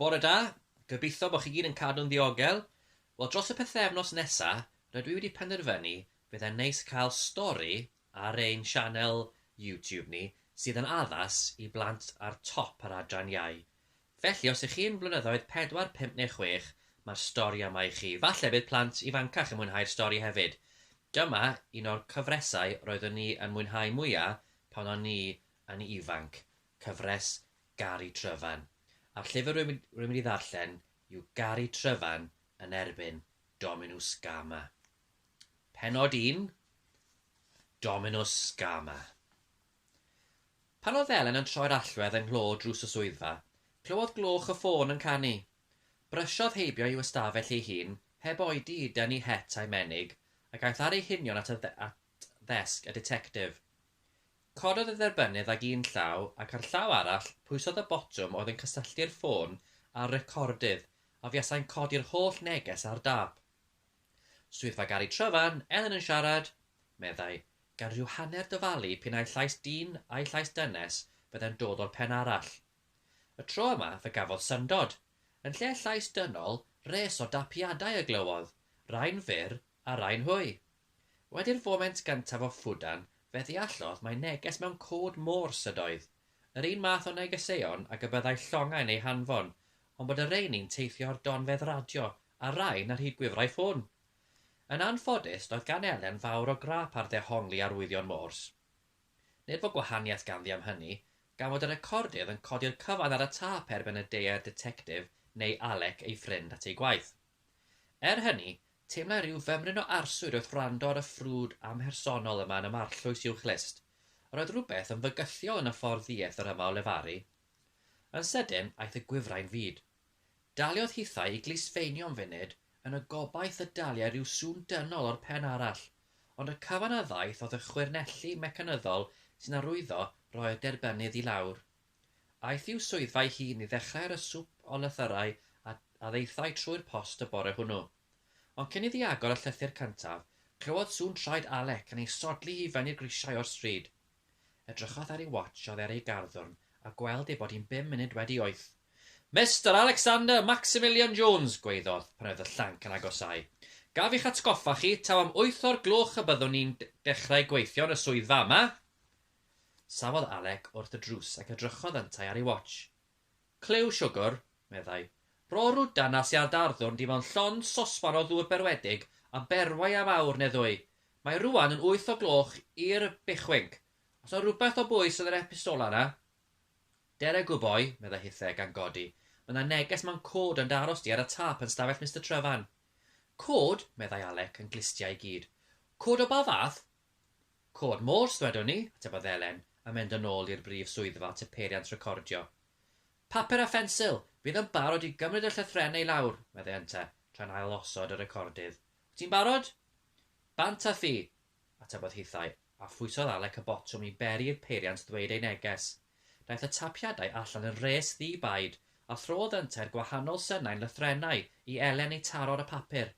Bore da, gobeithio bod chi gyd yn cadw'n ddiogel. Wel dros y pythefnos nesa, rydw i wedi penderfynu bydd e'n neis cael stori ar ein sianel YouTube ni sydd yn addas i blant ar top yr adran iau. Felly os ych chi'n flynyddoedd pedwar, pump neu chwech, mae'r stori yma i chi. Falle bydd plant ifancach yn mwynhau'r stori hefyd. Dyma un o'r cyfresau roeddwn i yn mwynhau mwya pan o'n i yn ifanc. cyfres Gari Tryfan, a'r llyfr rwy'n mynd i ddarllen yw Gari Tryfan yn erbyn Dominws Gama. Penod 1, Dominws Gama. Pan oedd Elen yn troi'r allwedd yng nghlo drws y swyddfa, clywodd gloch y ffôn yn canu. Brysiodd heibio i'w ystafell ei hun, heb oedi i dynnu het a'i menig, ac aeth ar ei hunion at ddesg y ditectif. Cododd y dderbynnydd ag un llaw ac â'r llaw arall pwysodd y botwm oedd yn cysylltu'r ffôn â'r recordydd a fuasai'n codi'r holl neges ar dâp. Swyddfa Gari Tryfan, Elen yn siarad, meddai, gan rhyw hanner dyfalu p'un ai llais dyn ai llais dynes fyddai'n dod o'r pen arall. Y tro yma fe gafodd syndod. Yn lle llais dynol, res o dapiadau y glywodd, rai'n fyr A rain hwy! Wedi'r foment gyntaf o ffwdan, fe ddeallodd mai neges mewn cod môr syd oedd, yr un math o negeseuon ag y byddai llongau'n eu hanfon, ond bod y rheini'n teithio ar donfedd radio, a rain ar hyd gwifrau ffôn! Yn anffodus, doedd gan Elen fawr o grâp ar ddehongli arwyddion Morse. Nid fo gwahaniaeth ganddi am hynny, gan fod y recordydd yn codi'r cyfan ar y tâp erbyn y deuai'r Ditectif neu Alec ei ffrind at ei gwaith. Er hynny, Teimlai rhyw fymryn o arswyd wrth wrando ar y ffrwd amhersonol yma yn y marllwys uwch lyst. Yr oedd rhywbeth yn fygythiol yn y ffordd ddieth yr yma o lefaru. Yn sydyn, aeth y gwifrau'n fud. Daliodd hithau i glusfeinio am funud, yn y gobaith y daliai rhyw sŵn dynol o'r pen arall, ond y cyfan a ddaeth oedd y chwyrnelli mecanyddol sy'n arwyddo roi y derbynnydd i lawr. Aeth i'w swyddfa'i hun i ddechrau ar y swp o lythyrau a a ddaethai trwy'r post y bore hwnnw. Ond cyn iddi agor y llythyr cyntaf, clywodd sŵn traed Alec yn ei sodli hi i fyny'r grisiau o'r stryd. Edrychodd ar ei watsh oddi ar ei garddwrn a gweld ei bod hi'n bum munud wedi wyth. Mister Alexander Maximilian Jones! gwaeddodd, pan oedd y llanc yn agosáu. Gaf i'ch atgoffa chi, taw am wyth o'r gloch y byddwn ni'n dechrau gweithio yn y swyddfa yma? Safodd Alec wrth y drws ac edrychodd yntau ar ei watsh. Clyw siwgr, meddai. Rorw dan a siar darddwrn dim ond llond sosban o ddŵr berwedig a berwau am awr neu ddwy. Mae rwan yn wyth o gloch i'r bechwync. Os na rhywbeth o bwys yn yr epistola yna? Dere gwboi, meddai hithe, gan godi. Mae na neges mewn cod yn dy aros di ar y tâp yn stafell Mister Tryfan. Cod? meddai Alec yn glustia i gyd. Cod o ba fath? Cod Morse, ddwedwn ni, atebodd Elen, yn mynd yn ôl i'r brif swyddfa at y peiriant recordio. Papur a phensil! Fydd yn barod i gymryd y llythrennau i lawr, meddai Ynte, tra'n ail-osod y recordydd. Wyt ti'n barod? Bant a fi! atebodd hithau, a phwysodd Alec y botwm i beri i'r peiriant ddweud ei neges. Daeth y tapiadau allan yn rhes ddi-baid, a throdd Ynte'r gwahanol synau'n lythrennau i Elen i taro ar y papur.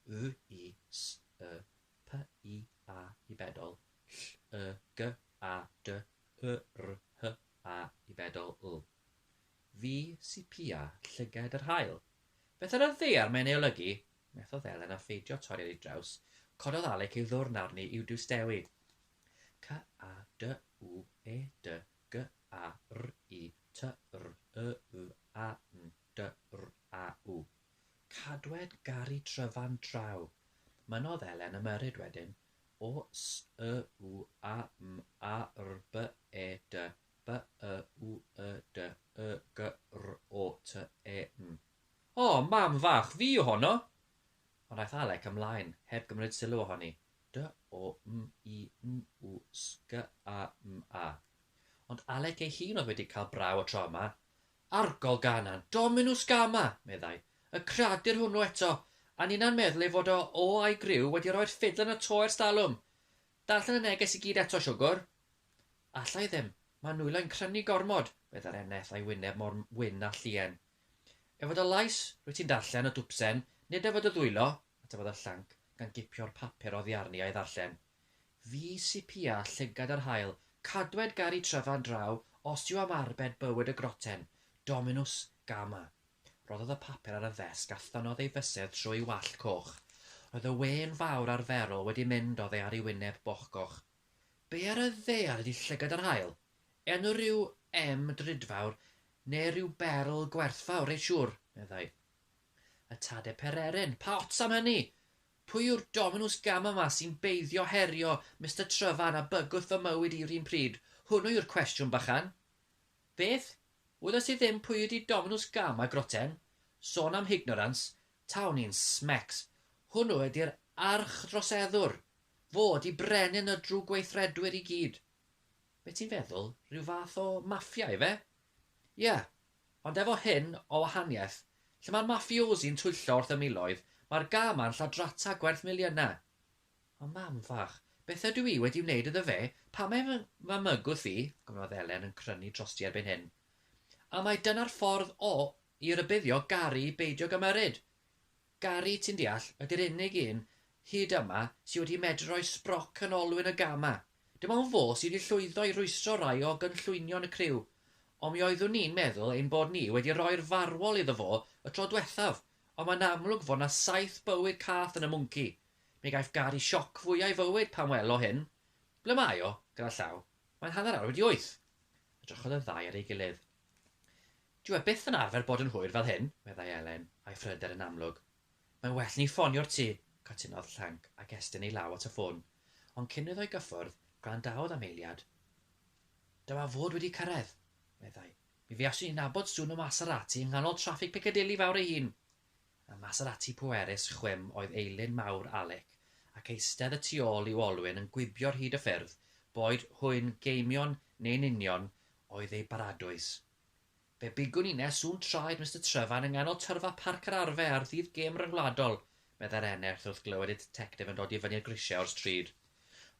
Y, i, s, y, P, I, A, i bedol, ll, y, g, a, dy, y, r, h, a, i bedol, l. Fi sy pia llyged yr haul. Beth ar y ddaear mae'n ei olygu? methodd Elen a pheidio torri ar ei draws, cododd Alec ei ddwrn arni i'w diwstewyd. C, a, d, w, e, dy, g, a, r, i, ty, r, y, w, a, n, DRAU. Cadwed garu tryfan draw! Mynnodd Elen ymyrryd wedyn, O s y w a m a r b e d b y w y d y g r o t e m. O! Mam fach, fi yw honno! Ond aeth Alec ymlaen, heb gymryd sylw ohoni. D o m i n w s g a m a. Ond Alec ei hun oedd wedi cael braw y tro yma. Arogl Ganan, Dominus Gama! meddai. Y cradur hwnnw eto, a ninna'n meddwl ei fod o o a'i griw wedi rhoi'r ffidl yn y to ers talwm! Darllen y neges i gyd eto, siwgwr? Alla i ddim. Mae nwylo'n crynu gormod, meddai'r eneth a'i wyneb mor wyn â llien. Er fod y llais, rwyt ti'n darllen, o dwpsen, nid er fod y ddwylo, atefodd y llanc, gan gipio'r papur oddi arni a'i ddarllen. Fi sy pia llygad yr haul, cadwed gar i tryfan draw os yw am arbed bywyd y groten, Dominws gama. Rhoddodd y papur ar y ddesg a thynnodd ei fysedd trwy'i wallt coch. Roedd y wên fawr arferol wedi mynd oddi ar ei wyneb bochgoch. Be ar y ddaear ydi llygad yr haul? Enw rhyw em drudfawr neu rhyw berl gwerthfawr, reit siŵr, meddai. Y tade pereren! Pa ots am hynny! Pwy yw'r Dominws Gama 'ma sy'n beiddio herio Mister Tryfan a bygwth fy mywyd i 'r un pryd? Hwnnw yw'r cwestiwn bychan. Beth? Wyddost ti ddim pwy ydi Dominws Gama, groten? Sôn am hignorans, tawn i'n smecs. Hwnnw ydi'r archdroseddwr! Fo ydi brenin y drwgweithredwyr i gyd. Be ti'n feddwl, rhyw fath o maffia ife? Ie, ond efo hyn o wahaniaeth, lle mae'r mafiosi yn twyllo wrth y miloedd, mae'r gân ma'n lladrata gwerth miliynau. O mam fach, beth ydw i wedi wneud iddo fe, pam mae fy fy mygwth i, gofynnodd Elen yn crynu drosti erbyn hyn. A mai dyna'r ffordd o i rybuddio Gari i beidio gymyryd! Gari, ti'n deall, ydy'r unig un hyd yma sy wedi medru rhoi sbroc yn olwyn y gân 'ma. Dim ond fo sydd wedi llwyddo i rwystro rai o gynllwynion y criw, ond mi oeddwn ni'n meddwl ein bod ni wedi rhoi'r farwol iddo fo y tro dwethaf, ond mae'n amlwg fod 'na saith bywyd cath yn y mwnci. Mi gaiff Gary sioc fwya' ei fywyd pan wel o hyn. Ble mae o? gyda llaw. Mae'n hanner awr wedi wyth! Edrychodd y ddau ar ei gilydd. Dyw e byth yn arfer bod yn hwyr fel hyn, meddai Elen, a'i phryder yn amlwg. Mae'n well ni ffonio'r tŷ, cytunodd Ffranc ac estyn ei law at y ffôn, ond cyn iddo ei gyffwrdd, gwrandaodd am eiliad. Da wa fod wedi cyrraedd, meddai. Mi fuaswn i'n nabod sŵn y Maserati yng nghanol traffig Piccadilly fawr ei hun. Y Maserati pwerus chwim oedd eilun mawr Alec, ac eistedd y tu ôl i'w olwyn yn gwibio ar hyd y ffyrdd, boed hwy'n geimion neu'n union, oedd ei baradwys. Fe bigwn i nes un traed Mister Trefarn yng nghanol tyrfa Parc yr Arfe ar ddydd gêm ryngwladol, meddai'r eneth wrth glywed y ditectif yn dod i fyny y grisiau o'r stryd.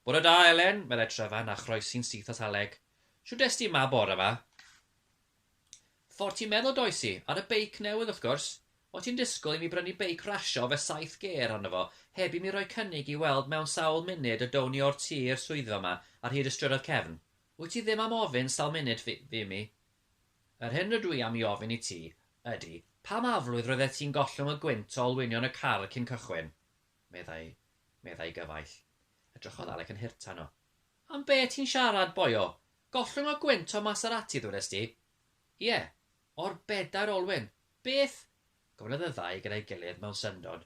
Bore da, Elen, meddai Trefarn a chroesi'n syth at Aleg. Shwt est ti 'ma bore 'ma? Ffordd ti'n meddwl does i, ar y beic newydd wrth gwrs. O' ti'n disgwyl i mi brynu beic rasio efe saith gêr arno fo, heb i mi roi cynnig i weld mewn sawl munud y down ni o'r tŷ i'r swyddfa 'ma ar hyd y strydoedd cefn? Wyt ti ddim am ofyn sawl munud fi, fi, mi? Yr hyn rydw i am i ofyn i ti ydy, pam aflwydd roeddet ti'n gollwng y gwynt o olwynion y car cyn cychwyn? meddai, meddai gyfaill. Edrychodd Alec yn hurt arno. Am be ti'n siarad, boio? Gollwng y gwynt o Maserati, ddwedest ti? Ie, o'r bedair olwyn. Beth? Gwelodd y ddau gyda'i gilydd mewn syndod.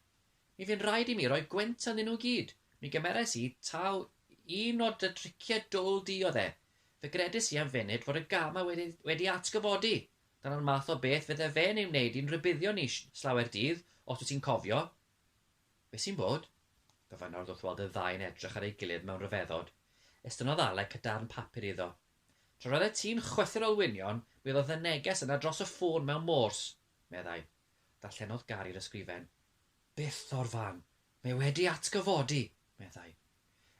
Mi fu'n rhaid i mi roi gwynt ynddyn nhw gyd. Mi gymerais i taw un o dy driciau dwl di oedd e. Fe gredais i am funud fod y gama wedi wedi atgyfodi. Dyna'r math o beth fydde fe'n ei wneud i'n rhybuddio ni slawer dydd, os wyt ti'n cofio. Be sy'n bod? gofynnodd wrth weld y ddau yn edrych ar ei gilydd mewn rhyfeddod. Estynnodd Alec y darn papur iddo. Tra roeddet ti'n chwythu'r olwynion, mi oedd y neges yna dros y ffôn mewn mors. Meddai, Darllenodd Gari'r ysgrifen. Byth o'r fan! Mae wedi atgyfodi! meddai.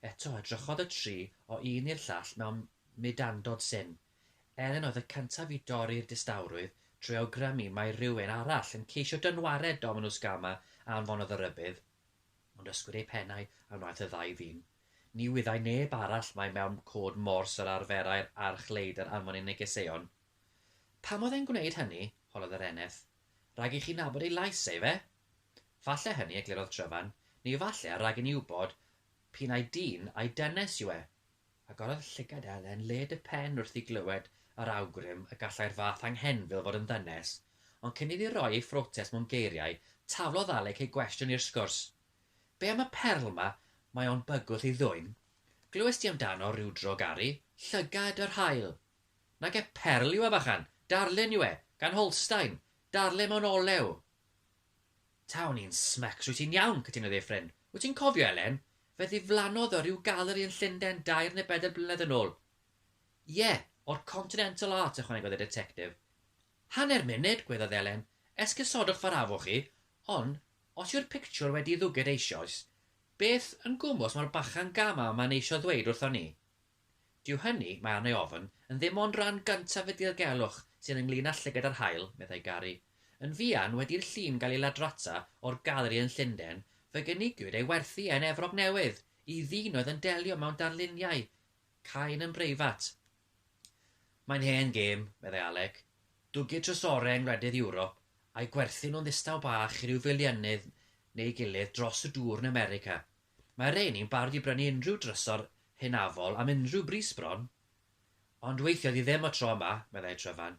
Eto edrychodd y tri o un i'r llall mewn mudandod syn. Elen oedd y cyntaf i dorri'r distawrwydd trwy awgrymu mai rhywun arall yn ceisio dynwared Dominws Gama a anfonodd y rhybudd. Ond ysgwyd eu pennau a wnaeth y ddau ddyn. Ni wyddai neb arall mai mewn cod Morse yr arferai'r archleidr anfon ei negeseuon. Pam oedd e'n gwneud hynny? holodd yr eneth. Rhag i chi nabod ei lais e, ife? Falle hynny, eglurodd Tryfan, neu falle rhag i ni wybod p'un ai dyn ai dynes yw e. Agorodd llygad Elen led y pen wrth i glywed yr awgrym y gallai'r fath anghenfil fod yn ddynes, ond cyn iddi roi ei phrotest mewn geiriau, taflodd Alec ei gwestiwn i'r sgwrs. Be am y perl 'ma, mae o'n bygwth i ddwyn? Glywes di amdano ryw dro Gari? Llygad yr haul! Nage perl yw e fachan, darllen yw e, gan Holstein, darllen mewn olew. Tawn i'n smecs, rwyt ti'n iawn, cytunodd Efren. Wyt ti'n cofio, Elen? Fe ddiflannodd o ryw galeri yn Llunden dair neu bedair blynedd yn ôl. Ie, o'r Continental Arts, ychwanegodd y Detectif. Hanner munud, gweddiodd Elen. Esgusodwch fy rhafwch chi, ond, os yw'r pictiwr wedi'i ddwged eisioes, beth yn gwmws mae'r bachan gama yma'n eisio ddweud wrthon ni? Dyw hynny, mae arna i ofn, yn ddim ond rhan gyntaf y dirgelwch sydd ynglŷn â llygad yr haul, meddai Gary. Yn fuan wedi'r llun gael ei ladrata o'r galeri yn Llundain, fe gynigiwyd ei werthu e yn Efrog Newydd i ddyn oedd yn delio mewn darluniau cain yn breifat. Mae'n hen gêm, meddai Alec. Dwgir trysorau yng ngwledydd Ewrop, a'u gwerthu nhw'n ddistaw bach i ryw filiynydd neu'i gilydd dros y dŵr yn America. Mae rhein i'n barod i brynu unrhyw drysor hynafol am unrhyw bris bron. Ond weithiodd hi ddim y tro yma, meddai Tryfan.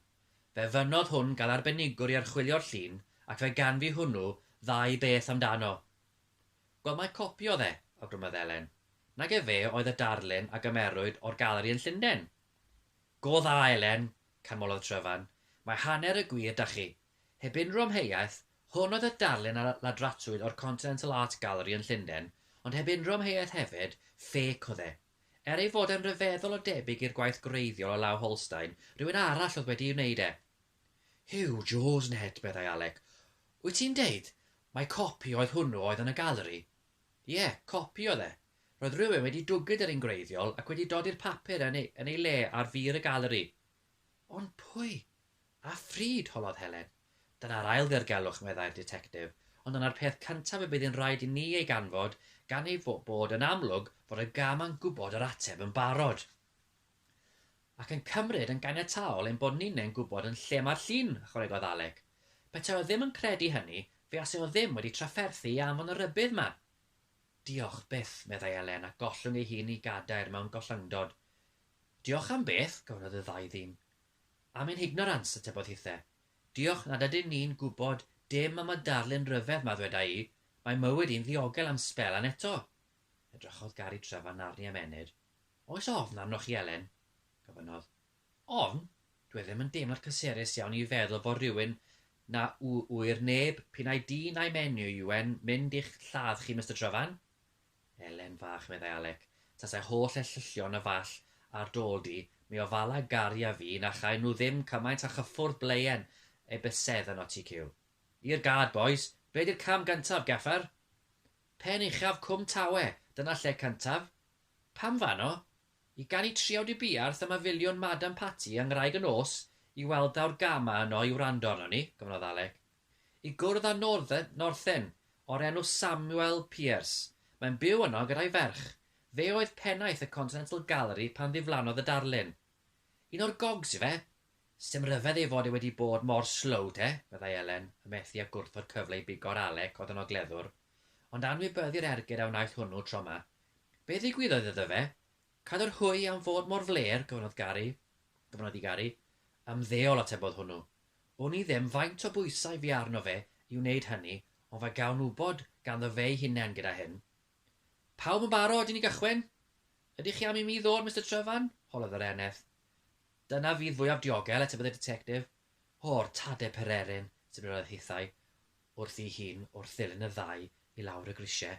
Fe fynnodd hwn gael arbenigwr i archwilio'r llun ac fe ganfu hwnnw ddau beth amdano. Wel, mae copi o dde, awgrymodd Elen. Nag efe oedd y darlun a gymerwyd o'r galeri yn Llundain? Go dda, Elen, canmolodd Tryfan. Mae hanner y gwir 'da chi. Heb unrhyw amheuaeth, hwn oedd y darlun a ladratrwyd o'r Continental Art Gallery yn Llundain, ond heb unrhyw amheuaeth hefyd, ffêc oedd e. Er ei fod e'n ryfeddol o debyg i'r gwaith gwreiddiol o law Holstein, rhywun arall oedd wedi'i wneud e. Huw Jones Ned, meddai Alec. Wyt ti'n deud mai copi oedd hwnnw oedd yn y galeri? Ie, copi oedd e. Roedd rhywun wedi dwgyd yr un gwreiddiol ac wedi dodi'r papur yn ei le ar fur y galeri. Ond pwy? A phryd? holodd Helen. Dyna'r ail ddirgelwch, meddai'r Ditectif, ond dyna'r peth cyntaf y bydd yn rhaid i ni ei ganfod, gan ei bod yn amlwg fod y gam yn gwybod yr ateb yn barod. Ac yn cymryd yn ganiataol ein bod ninnau'n gwybod yn lle mae'r llun, ychwanegodd Alec. Petai o ddim yn credu hynny, fe asai o ddim wedi trafferthu i anfon y rhybudd 'ma. Diolch byth, meddai Elen, a gollwng ei hun i gadair mewn gollyngdod. Diolch am beth, gofynnodd y ddau ddyn. Am ein hignorans, atebodd hithe. Diolch nad ydyn ni'n gwybod dim am y darlun ryfedd 'ma, ddweda i, mae mywyd i'n ddiogel am sbel an eto. Edrychodd Gary Trevor narni am ennyd. Oes ofn arnoch chi, Elen? gofynnodd. Ofn? Dw i ddim yn deimlo'n cysurus iawn i feddwl fod rhywun na w- ŵyr neb, p'un ai dyn ai menyw yw e'n mynd i'ch lladd chi, Mister Trevan. Elen fach, meddai Alec, tasai holl ellylltion y Fall ar d'ôl di, mi ofala Gari a fi na chaen nhw ddim cymaint a chyffwrdd blaen ei bysedd yn Otti Cyw. I'r gad, bois! Be di'r cam gyntaf, Gaffer? Pen uchaf Cwm Tawe, dyna lle cyntaf. Pam fano? I ganu triawd i buarth a mafiliwn Madam Patti a ngwraig y nos i weld awr gama yno i wrando arnon ni, gofynnodd Alec. i gwrdd â Northen, Northen, o'r enw Samuel Pierce. Mae'n byw yno gyda'i ferch. Fe oedd pennaeth y Continental Gallery pan ddiflannodd y darlun. Un o'r gogs yw e! Sdim rhyfedd ei fod e wedi bod mor slow te, meddai Elen, yn methu â gwrthod cyfle i bigo'r alec oedd yn ogleddwr. Ond anwybyddu'r ergyd a wnaeth hwnnw tro 'ma. Be ddigwyddodd iddo fe? Cadw'r hwy am fod mor flêr, gofynnodd Gary, gofynnodd i Gary. Ymddeol, atebodd hwnnw. Wn i ddim faint o bwysau fu arno fe i wneud hynny ond fe gawn wybod ganddo fe'i hunain gyda hyn. Pawb yn barod i ni gychwyn? Ydych chi am i mi ddod, Mister Trevan? holodd yr eneth. Dyna fydd fwyaf diogel, atebydd y Ditectif. O'r tade pererin! sibrynodd hithau wrthi'i hun wrth ddilyn y ddau i lawr y grisiau.